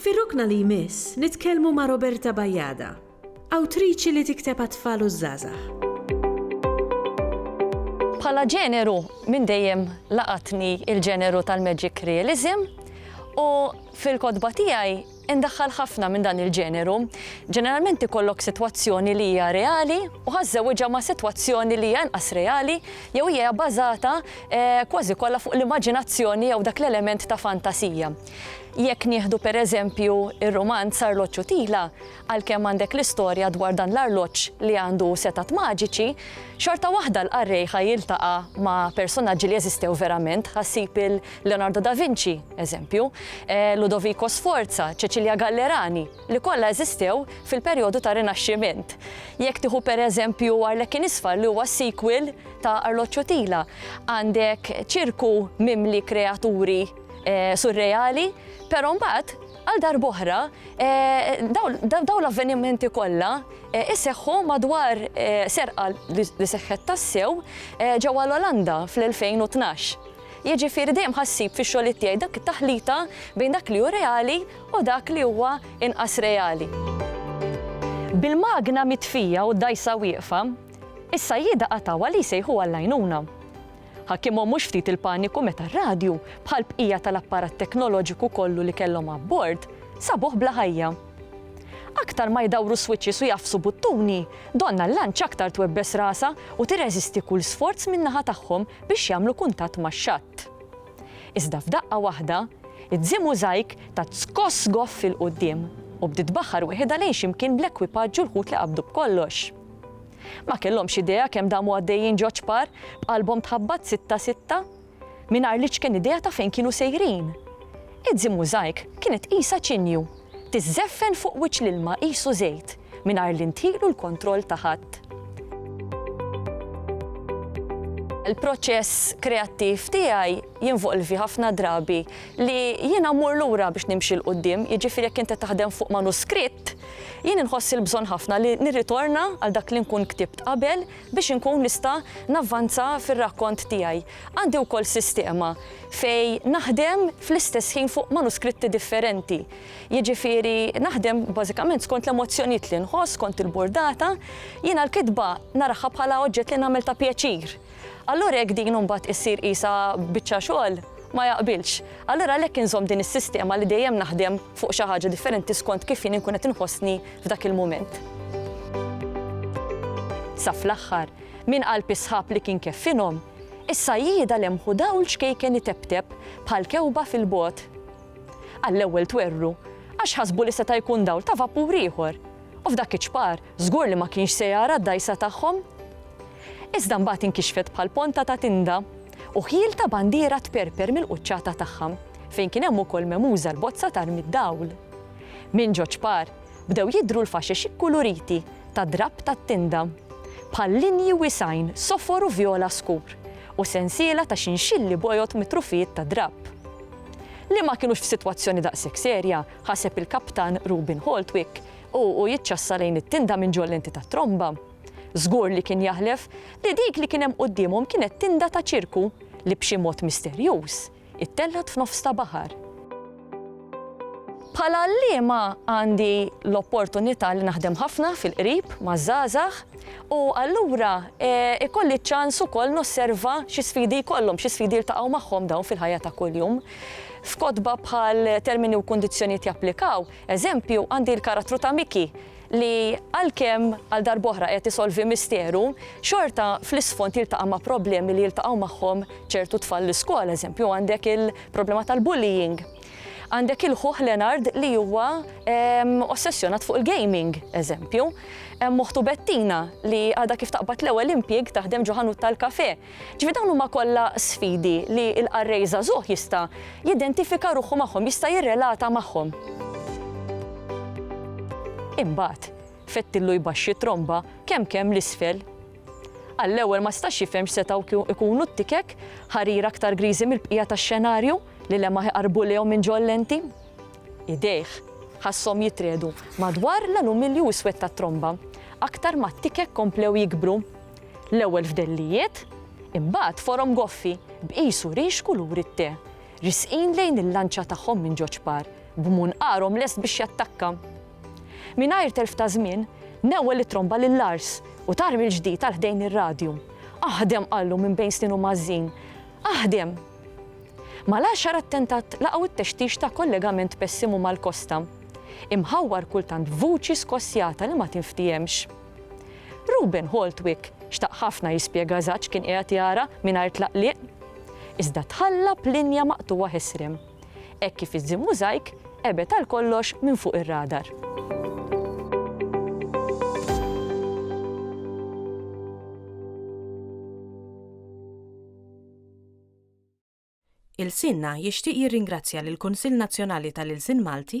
Fir-rokna li jmiss nitkellmu ma' Roberta Bajada, awtriċi li tikteb għat-tfal u ż-żgħażagħ. Bħala ġeneru, minn dejjem laqatni l-ġeneru tal-magic realism u fil-kotba tiegħi ndaħħal ħafna minn dan il-ġeneru. Ġeneralment ikollok sitwazzjoni li hija reali u ħa żżewwiġha ma' sitwazzjoni li hija inqas reali jew hija bażata kważi kollha fuq l-immaġinazzjoni jew dak l-element ta' fantasija. Jekk nieħdu per eżempju r-rumanz Arloġġ u Tila, għalkemm għandek l-istorja dwar dan l-arloġġ li għandu setgħat maġiċi, xorta waħda l-qarrej ħa jiltaqa' ma' personaġġi li eżistew verament, ħa ssib il-Leonardo da Vinci, eżempju, Ludovico Sforza, Cecilia Gallerani, li kollha eżistew fil-perjodu tar-Rinaxximent. Jekk tieħu per eżempju Arlekin Isfar li huwa s-sequel ta' Arloġġ u Tila, għandek ċirku mimli kreaturi, surreali, però mbagħad għal darb'oħra dawn l-avvenimenti kollha iseħħu madwar serqa li seħħet tassew ġewwa l-Olanda fl-2012. Jiġifieri dejjem ħassib fix-xogħlijiet tiegħi dak it-taħlita bejn dak li hu reali u dak li huwa inqas reali. Bil-magna mitfija u d-dgħajsa wieqfa, is-sajjieda qatgħu għal li jsejħu għall-għajnuna. Ħakkimhom mhux ftit il-paniku meta r-radju, bħal bqija tal-apparat teknoloġiku kollu li kellhom abbord, sabuh bla ħajja. Aktar ma jdawru switches u jgħaffsu buttuni, donnha l-lanċ aktar twebbes rasha u tirreżisti kull sforz min-naħa tagħhom biex jagħmlu kuntatt max-xatt. Iżda f'daqqa waħda, id-Zi Muzajk tat skoss goff 'il quddiem u bdiet tbaħħar weħidha lejn xi mkien bl-ekwipaġġ u l-ħut li qabdu b'kollox. Ma kellhomx idea kemm damu għaddejjin ġo ċpar, b'qalbhom tħabbat sitta sitta, mingħajr l-iċken idea ta' fejn kienu sejrin. Id-Zi Mużajk kienet qisha ċinju, tiżżeffen fuq wiċċ l-ilma qisu żejt, mingħajr li nthielu l-kontroll ta' ħadd. Il-proċess kreattiv tiegħi jinvolvi ħafna drabi li jiena mmur lura biex nimxi 'l quddiem, jiġifieri jekk int qed taħdem fuq manuskritt, jien inħoss il-bżonn ħafna li nirritorna għal dak li nkun ktibt qabel biex inkun nista' navvanza fir-rakkont tiegħi. Għandi wkoll sistema fejn naħdem fl-istess ħin fuq manuskritti differenti. Jiġifieri naħdem bażikament skont l-emozzjonijiet li nħoss, skont il-burdata. Jiena l-kitba naraha bħala oġġett li nagħmel ta' pjaċir. Allura jekk din imbagħad issir qisha biċċa xogħol, ma jaqbilx. Allura għalhekk inżomm din is-sistema li dejjem naħdem fuq xi ħaġa differenti skont kif jien inkun qed inħossni f'dak il-mument. Sa fl-aħħar, min qalb is-sħab li kien keffinhom, is-sajjieda lemħu dawl ċkejken itebteb bħal kewba fil-bogħod. Għall-ewwel twerwru, għax ħasbu li seta' jkun dawl ta' vapur ieħor, u f'dak iċ-ċpar żgur li ma kienx se jara d-dgħajsa tagħhom. iżda mbagħad inkixfet bħal ponta ta' tinda, u ħjiel ta' bandiera tperper mill-quċċata tagħha, fejn kien hemm ukoll memuża l-bozza t'armi d-dawl. Minn ġo ċpar, bdew jidhru l-faxex ikkuluriti ta' drapp tat-tinda, bħal linji wiesgħin sofor u vjola skur, u sensiela ta' xinxilli bojod mitrufijiet ta' drapp. Li ma kinux f'sitwazzjoni daqshekk serja, ħaseb il-Kaptan Rubin Holtwick, u hu jiċċassa lejn it-tinda minn ġol-lenti tat-tromba. Żgur li kien jaħlef li dik li kien hemm quddiemhom kienet tinda ta' ċirku li b'xi mod misterjuż ittellgħet f'nofs ta' baħar. Bħala għalliema għandi l-opportunità li naħdem ħafna fil-qrib maż-żgħażagħ u allura ikolli ċ-ċans ukoll nosserva xi sfidi jkollhom, xi sfidi jiltaqgħu magħhom dawn fil-ħajja ta' kuljum. F'kotba bħal Termini u Kundizzjonijiet Japplikaw, eżempju, għandi l-karattru ta' Mickey, li għalkemm għal darb'oħra qiegħed isolvi misteru, xorta fl-isfond jiltaqa' ma' problemi li jiltaqgħu magħhom ċertu tfal l-iskola. Eżempju, għandek il-problema tal-bullying. Għandek il-ħuh Leonard li huwa ossessjonat fuq il-gaming, eżempju. Hemm oħtu Bettina li għadha kif taqbad l-ewwel impjieg taħdem ġo ħanut tal-kafè. Ġifieri dawn huma kollha sfidi li l-qarrej żagħżugħ jista' jidentifika ruħu magħhom, jista' jirrelata magħhom. Imbagħad, fettillu jbaxxi t-tromba kemm kemm 'l isfel. Għall-ewwel ma stax jifhem x'setgħu jkunu t-tikek, ħarir aktar griżi mill-bqija tax-xenarju li lemaħ iqarrbu lejhom minn ġo l-lenti. Idejh, ħasshom jitriegħdu madwar l-alumilju iswed tat-tromba, aktar ma t-tikek komplew jikbru. L-ewwel fdellijiet, imbagħad forom goffi b'qis u rix kulur it-te, risqin lejn il-lanċa tagħhom minn George Parr b'munqarhom lest biex jattakka. Mingħajr telf ta' żmien, newwel it-tromba lil Lars u tar mill-ġdid għal ħdejn ir-radju. Aħdem! qallu minn bejn snienu mgħażżin. Aħdem! Mal-għaxar attentat laqgħu t-textix ta' kollegament pessimu mal-kosta, imħawwar kultant b'vuċi skossjata li ma tinftiehemx. Reuben Holtwick xtaq ħafna jispjega eżatt x'kien qiegħed jara mingħajr tlaqliq. Iżda tħalla b'linja maqtugħa ħesrem, hekk kif iż-Zim Mosaic qebed għal kollox minn fuq ir-radar. Ilsienna jixtieq jirringrazzja lill-Kunsill Nazzjonali tal-Ilsien Malti,